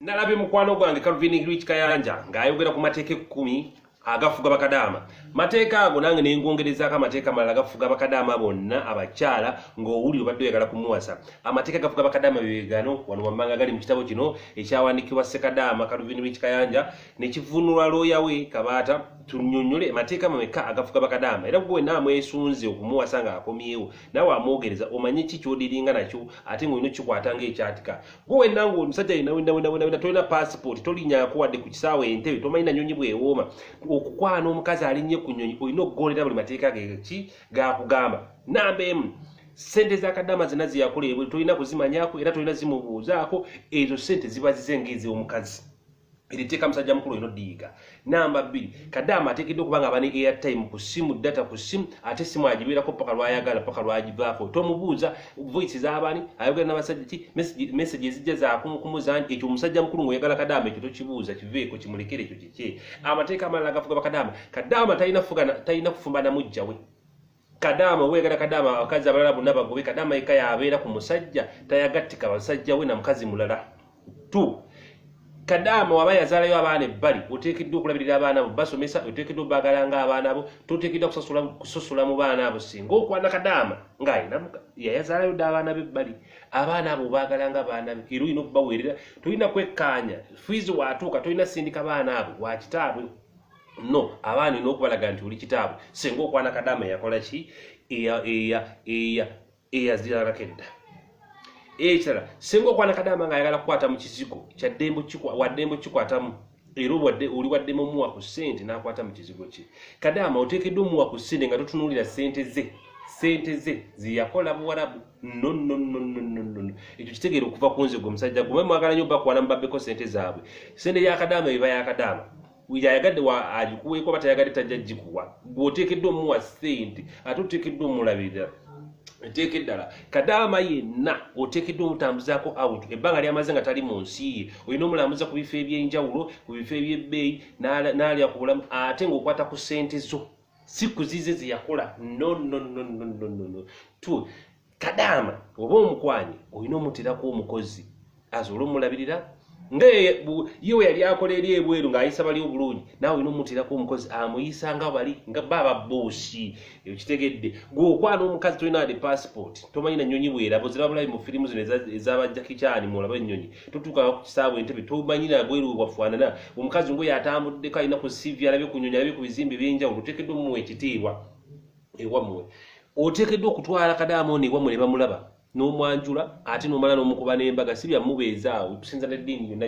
nalabye mukwano gwange calvin rich kayanja ng'ayogera ku mateeka ekkumi agafuga bakadaama mateeka ago nange nengongerezaako amateeka amalala gafuga bakadaama bonna abakyala ng'owulire obadde oyagala kumuwasa amateeka gafuga bakadaama bebegano wano wammanga gali mu kitabo kino ekyawandikibwa sekadaama calvin rich kayanja nekivunulwa looya we kabaata tunyonyole amateeka mameka agafuga bakadaama era gwe wenna amwesunze okumuwasa ng'akomyewo nawe amwogereza omanye ki kyodiringa nakyo ate ng'olina okikwata ng'ekyatika gwe wenna nga omusajja yena wenawenawenawena tolina pasipooti tolinyako wadde ku kisaawa entebe tomanyi na nyonyi bwewooma okukwana omukazi alinnye ku nyonyi olina okugondera buli mateeka geki gakugamba namba emu sente zakadama zina zeyakola ebwe tolina kuzimanyako era tolina zimubuuzaako ezo sente ziba zize ngaezomukazi eri tteeka musajja mukulu olina odiyiga namba bbiri kadaama ateekedde okuba nga abane airtime ku simu data ku simu ate simu agibeerako paka lwayagala paka lwagivaako tomubuuza voice zabaani ayogera nabasajja ki message ezijja zakumukumuzaani ekyo omusajja mukulu ngaoyagala kadaama ekyo tokibuuza kiveeko kimulekere ekyo kikye amateeka amalala gafuga bakadaama kadaama talina kufumba namujjawe kadaama obweyagala kadaama abakazi abalala bonna bagobe kadaama yekka yabeera ku musajja tayagattika basajja we na mukazi mulala t kadaama waba yazaalayo abaana ebbali oteekeddwa okulabirira abaana abo basomesa oteekeddwa obagala nga abaana abo toteekeddwa kusosola mu baana abo singa okwana kadaama nga yayazaalayo dda abaana be ebbali abaana abo obagala nga abaana be era olina okubaweerera tolina kwekkaanya fiizi watuuka tolina sindika baana abo wakitaabwe no abaana olina okubalaga nti oli kitaabwe singa okwana kadaama eyakola ki eyaziralako edda ekirala singa okwana kadaama nga ayagala kukwata mu kizigo waddembe okikwatamu era obwadde oli waddemu omuwa ku ssente n'akwata mu kizigo kye kadaama oteekeddwa omuwa ku ssente nga totunuulira ssente ze sente ze zeyakola buwarabu nononononono ekyo kitegeera okuva ku nze gwe omusajja gwe mwagala nyo bakwana mubabeko sente zaabwe sente yakadaama eba yakadaama yayagadde agikuweeko oba tayagadde tajja gikuwa gweoteekeddwa omuwa sente ate oteekeddwa omulabirira eteeka eddala kadaama yenna oteekeddwa omutambuzaako out ebbanga lyamaze nga tali mu nsi ye olina omulambuza ku bifo ebyenjawulo ku bifo ebyebbeeyi n'alya ku bulamu ate ng'okwata ku sente zo si kuzize zeyakola no no no no no no no kadaama oba omukwanye olina omuterako omukozi asobola omulabirira nga ye we yali akola eri ebweru ng'ayisa bali obulungi naawe olina omuterako omukozi amuyisa nga bali nga baaba boosi eyo kitegedde gwe okwana omukazi tolina ade passport tomanyi na nyonyi bwerabo zirabulabi mu firimu zino ezabajakikyani muolaba ennyonyi totuukanga ku kisaabu entebe tomanyi na bweru bwafaanana omukazi ngoyo atambuddeko alina ku sivi alabye ku nyonyi alabye ku bizimbe ebyenjawulo otekeddwa mumuwa ekitiibwa ewammwe oteekeddwa okutwala kadaamooni ewammwe ne bamulaba n'omwanjula ate n'omala n'omukuba n'embaga si byamubeeza awo okusinza n'eddiini yonna